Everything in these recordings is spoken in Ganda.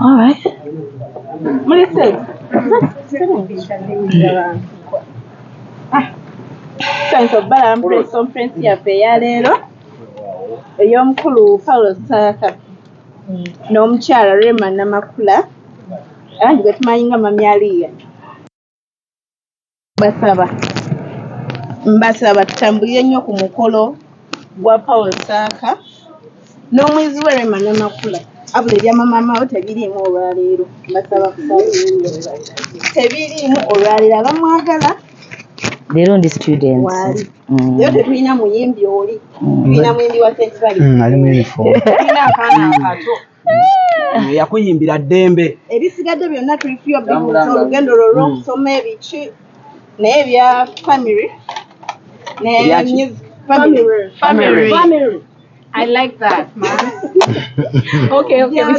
All right. Muli sex. Thanks of Balaam Press Conference yaffe eya leero ey'omukulu Paulo Ssaaka n'omukyala Rema Namakula era nti gwe tumanyi nga Mami Aliya. Mbasaba mbasaba tutambulire nnyo ku mukolo gwa Paul Nsaaka n'omuyizi we Rema Namakula wabula ebyama maama wo tebiriimu olwaleero mbasaba kusabirira tebiriimu olwaleero abamwagala leero ndi student waali mm. leero tetulina muyimbi oli mm. tulina muyimbi wa sentibali mm, ali mu uniform tulina akaana akato yakuyimbira ddembe ebisigadde byonna tulifiyo olugendo lwo lwokusoma hmm. ebiki naye ebya family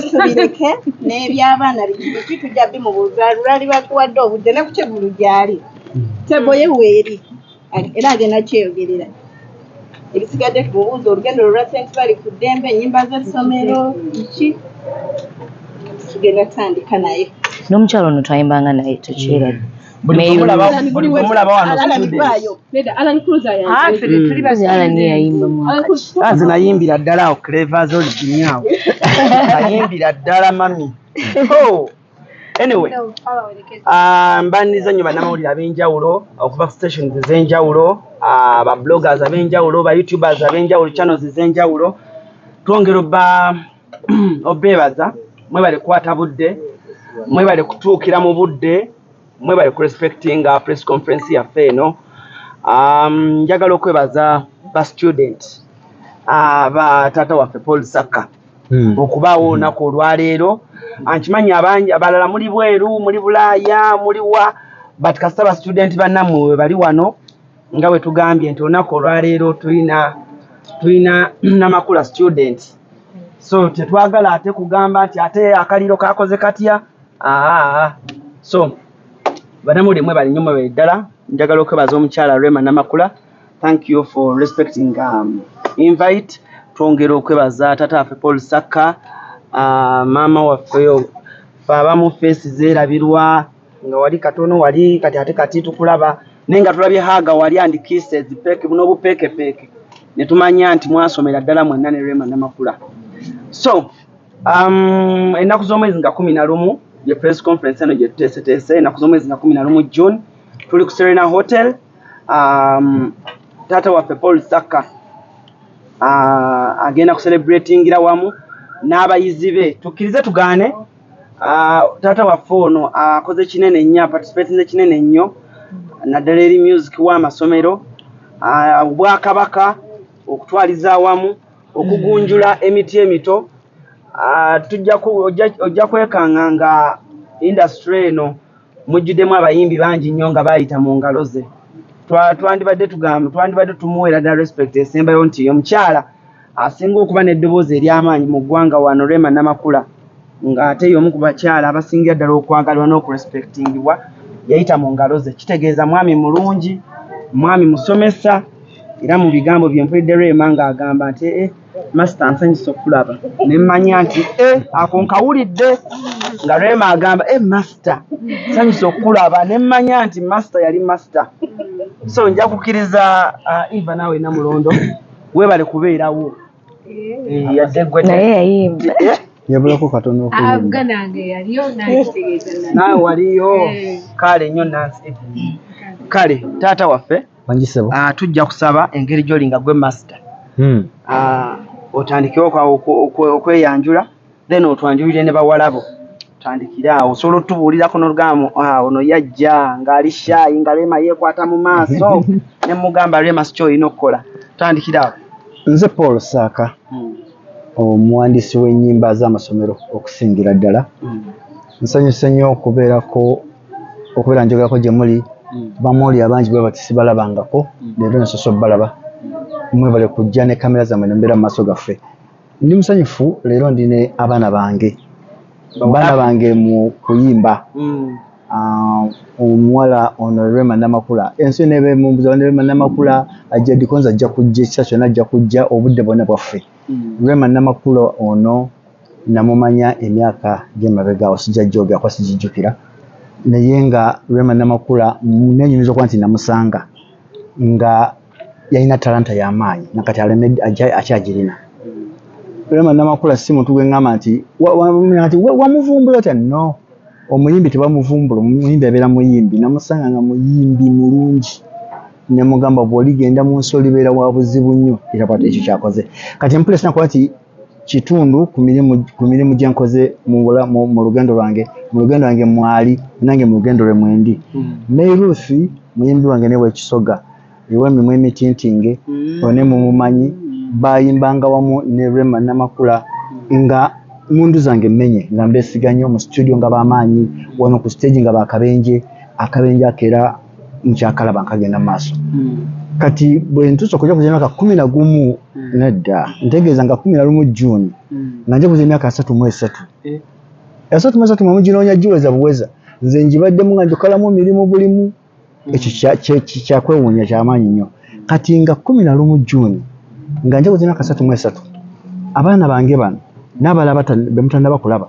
tubireke n'ebyabaana biki tujja bimubuuza lwali bakuwadde obudde ne ku kyegulu gyali hmm. teboye weeri era agenda kyeyogerera ebisigadde ku bubuuzi olugendo lwa sent bali ku ddembe enyimba z'essomero ki tugenda tutandika naye n'omukyalo ono twayimbanga naye tukiirade nze nayimbira ddala awo clevas olidinyawo nayimbira ddala mami anyway ah, mbandiza nyo banamawulire abenjawulo okuva ku stations ezenjawulo ah, ba bloggers abenjawulo ba youtubers abenjawulo channels ezenjawulo twongera oba obebaza mwebale kukwata budde mwebale kutuukira mu budde mwebale ku respecting uh, press conference yaffe eno um, njagala okwebaza ba student uh, ba taata waffe paul saka Hmm. okubaawo hmm. olunaku olwaleero nkimanyi abangi abalala muli bweru muli bulaaya muliwa but kasita ba student bannamwe webali wano nga wetugambye nti olunaku olwaleero tulina tulina namakula student so tetwagala ate kugamba nti ate akaliro kakoze katya aa so banamuli mwe balinyo mwebali ddala njagala okwebaza omukyala rema namakula thank you for respecting um, invite twongera okwebaza tata afe paul saka uh, maama waffeyo fe abamu feesi zerabirwa nga wali katono wali kati ate kati tukulaba naye nga tulabye haga wali andikise zipeke buno obupekepeeke netumanya nti mwasomera ddala mwenna ne rema namakula so um, ennaku z'omwezi nga kumi na lumu ye press conference eno gyetuteeseteese ennaku z'omwezi nga kumi na lumu june tuli ku serena hotel um, taata waffe paul sakka uh, agenda kucelebratingira wamu n'abayizi be tukkirize tugaane uh, taata waffe ono akoze uh, kinene nnyo aparticipatinze kinene nnyo naddala eri music w'amasomero uh, obwakabaka uh, okutwaliza awamu okugunjula emiti emito uh, tujja ojja kwekanga nga industry eno mujjudemu abayimbi bangi nnyo nga bayita mu ngalo ze twandibadde tugamba twandibadde tumuweera da respect esembayo nti omukyala asinga okuba n'eddoboozi ery'amaanyi mu ggwanga wano rema namakula ng'ate y'omu ku bakyala abasingira ddala okwagalwa n'okurespectingibwa yayita mu ngalo ze kitegeeza mwami mulungi mwami musomesa era mu bigambo bye mpulidde rema ng'agamba nti ee eh, Masita nsanyusa okulaba ne mmanya nti eh, ako nkawulidde nga Rema agamba eh, Masita nsanyusa okulaba ne mmanya nti Masita yali Masita. So nja kukkiriza uh, Eva naawe Namulondo weebale kubeerawo eh, yadde gwe naye yayimba eh? yabulako katono naawe waliyo kale nnyo nansi kale taata waffe Ah, tujja kusaba engeri gyoli nga gwe master hmm. ah, otandikewo okweyanjula then otwanjulire ne bawalabo tandikire awo osobola otubuulirako nolugamu ah, ono yajja ngaali shaayi nga rema yekwata mu maaso ne mugamba rema sikyo olina okukola tandikire awo nze paul saaka hmm. omuwandiisi w'ennyimba z'amasomero okusingira ddala hmm. nsanyuse nnyo okubeerako okubeera njogerako gye muli mm. bamooli abangi bwe bati sibalabangako mm. leero nasosa obalaba mm. mwebale kujja ne kamera zamwe ne mbeera mu maaso gaffe ndi musanyufu leero ndi ne abaana bange baana bange mu kuyimba ah, omuwala ono rema namakula ensi yona ebe mumbuza bane rema namakula ajja dikonza ajja kujja ekisa kyona ajja kujja obudde bwona bwaffe rema namakula ono namumanya emyaka gyemabega awo sijja gyogera kuba sijijjukira naye nga Rema Namakula nenyumiza okuba nti namusanga nga yalina talanta yamaanyi nakati alemedde akyagirina Rema Namakula si muntu gwe ngamba nti wamuvumbula otya no omuyimbi tebamuvumbula omuyimbi abeera muyimbi namusanga nga muyimbi mulungi nemugamba bwoligenda mu nsi olibeera wa buzibu nnyo era bwati ekyo kyakoze kati empulesi nakuba nti kitundu ku mirimu ku mirimu gye nkoze mu mu, mu lugendo lwange mu lugendo lwange mwali nange mu lugendo lwe mwendi mm. Mary Ruth muyimbi wange ne wekisoga ewemimwa emitintinge mm. one mumumanyi bayimbanga wamu ne Rema Namakula nga mundu zange menye nga mbesiga nnyo mu studio nga bamaanyi wano ku stage nga bakabenje akabenje akera nkyakalaba nkagenda maaso hmm. kati bwentuusa okuja kuza emyaka kumi na gumu hmm. nedda ntegeeza nga kumi na lumu june hmm. nga nja kuza emyaka asatu mu esatu eh. asatu mu esatu mwamu ginoonya giweza buweza nze ngibaddemu nga njokalamu mirimu bulimu ekyo kyakwewuunya kyamaanyi nnyo kati nga kumi na lumu june nga nja kuza emyaka asatu mu esatu abaana bange bano n'abala bemutanaba kulaba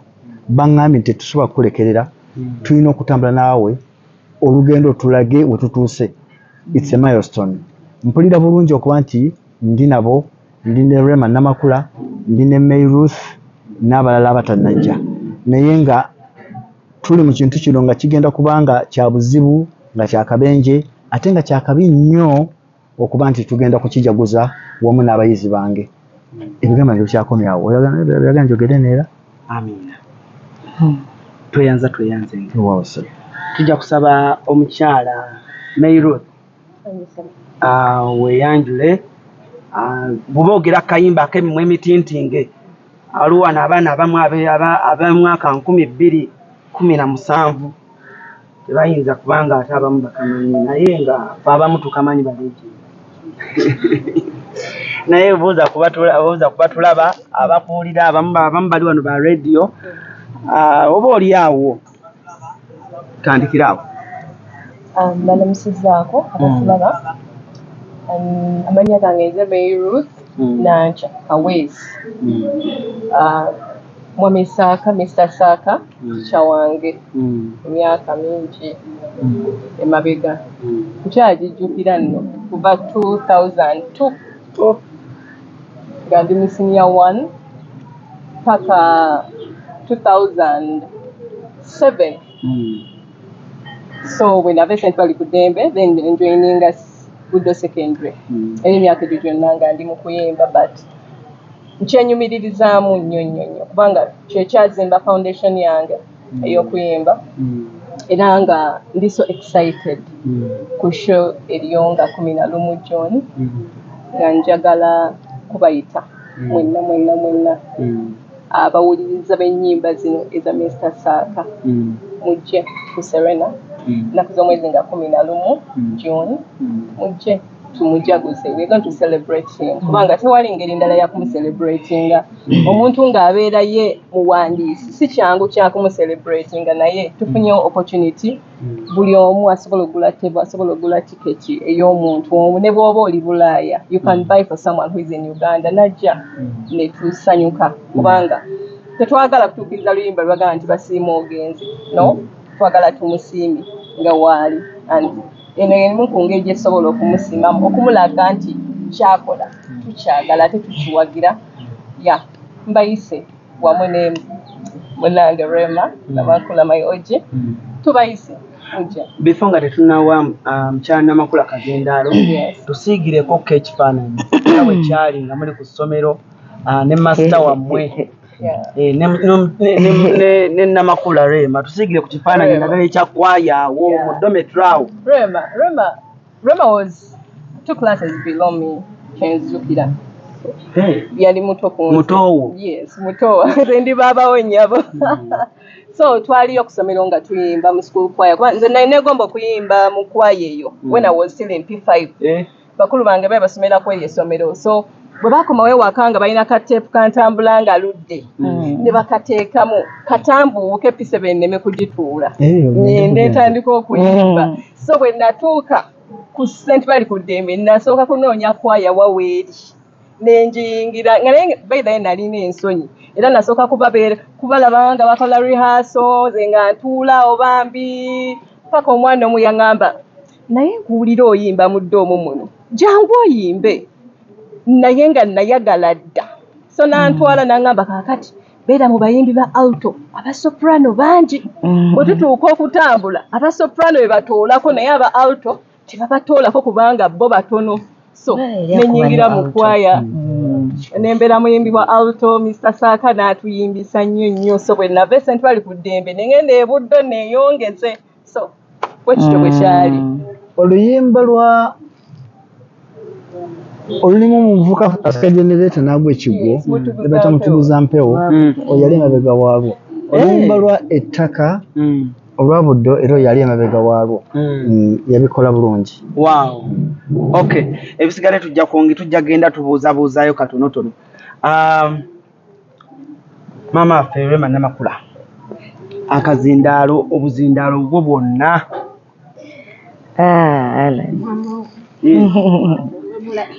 baŋŋambye nti tetusobola kukulekerera tulina okutambula naawe olugendo tulage wetutuuse it's a milestone mpulira bulungi okuba nti ndi nabo ndi ne Rema Namakula ndi ne May Ruth n'abalala abatanajja naye nga tuli mu kintu kino nga kigenda kubanga kya buzibu nga kyakabenje ate nga kyakabi nnyo okuba nti tugenda kukijaguza wamu n'abayizi bange ebigambo byange bikyakomyawo oyagala njogere neera amiina hmm. tweyanza tweyanze tujja kusaba omukyala mayroth ah, weyanjule ah, bwoba ogera akayimba akemimwa emitintinge aliwo wano abaana abamu abemwaka nkumi bbiri kumi na musanvu Tebayinza kubanga ate abamu bakamanyi naye nga fe abamu tukamanyi balegi naye obuuza kubatulaba abakuwulira abamu abamu bali wano ba radio ah, oba oli awo tandikira awo ah, balamusizaako abatulaba mm. amanya gange nze meiruth mm. nanca kawezi mm. ah, Mwami Saaka, Mister Saaka, teacher wange emyaka mingi emabega, nkyagijjukira nno kuva two thousand two nga ndi mu senior one paka two thousand seven so bwenava esentebali ku ddembe then enjoininga Buddo secondary era emyaka egyo gyonna nga ndi mu kuyimba but nkyenyumiririzaamu nnyo nnyo nnyo kubanga kyekyazimba foundation yange mm. ey'okuyimba mm. era nga ndi so excited mm. ku show eriyo nga kumi na lumu john nga njagala kubayita mwenna mwenna mwenna abawuliriza b'ennyimba zino eza minisita saaka mujje ku serena nnaku z'omwezi nga kumi na lumu john mujje tumujaguze we're going to celebrate him mm. kubanga tewali ngeri ndala yakumuselebratinga mm. omuntu ng'abeera ye muwandiisi si kyangu kyakumuselebratinga naye tufunye mm. opportunity buli omu asobola ogula tebo asobola ogula tiketi ey'omuntu omu ne bw'oba oli bulaaya you can buy for someone who is in uganda najja netusanyuka kubanga tetwagala kutuukiriza luyimba lwagala nti basiima ogenzi no twagala tumusiimi nga waali and eno yemu ku ngeri gye tusobola okumusimamu okumulaga nti kyakola tukyagala ate tukiwagira ya mbayise wamu ne munange rema namakula my og tubayise before nga tetunawa ah, mukyala namakula kagendaalo tusiigireko ko ekifaananyi nga bwe kyali nga muli ku ssomero ah, ne masita wammwe Eh, ne namakula rema tusigire ku kifaananyi nagala ekyakwaya awo mu dometry awo rema rema rema was two classes below me kenzukira eh. yali muto kumutowo yes mutowo nze ndi baabawo nyabo hmm. so twaliyo okusomero nga tuyimba mu school kwaya kuba nze nali negomba okuyimba mu kwaya eyo hmm. when i was still in p five eh. bakulu bange bae basomera kweri esomero so bwe bakomawo ewaka nga balina kateepu kantambula nga ludde mm. ne bakateekamu katambuuke pise benneme kugituula nende ntandika okuyimba mm. so bwe natuuka ku sente bali ku ddembe nasooka kunoonya kwaya waweeri nenjiyingira nga naye baidhaye nalina ensonyi era nasooka kubabeera kubalaba nga bakola rehearso ze nga ntuula obambi paka omwana omu yaŋamba naye nkuwulira oyimba mu ddoomu muno jangu oyimbe naye nga nayagala dda so nantwala mm. nangamba kakati beera mu bayimbi ba alto aba soprano bangi mm. bwe tutuuka okutambula aba soprano bebatoolako naye aba alto tebabatoolako kubanga bo batono so nenyingira mu kwaya mm. nembeera muyimbi wa alto mr saaka n'atuyimbisa nnyo nnyo so bwe nava esentwali ku ddembe nengenda ebuddo neyongeze so bwekityo bwekyali mm. oluyimba lwa olulimu omuvuka asika genereeta naagwa ekigwo ebata mutuguza mpewo mm. oyali emabega waalwo eh. oluyimba lwa ettaka mm. olwa buddo era oyali emabega waalwo mm. yabikola bulungi ok ebisigale tujja kungi tujja genda tubuuzabuuzaayo katonotono um, Maama waffe Rema Namakula akazindaalo obuzindaalo bwo bwonna ah,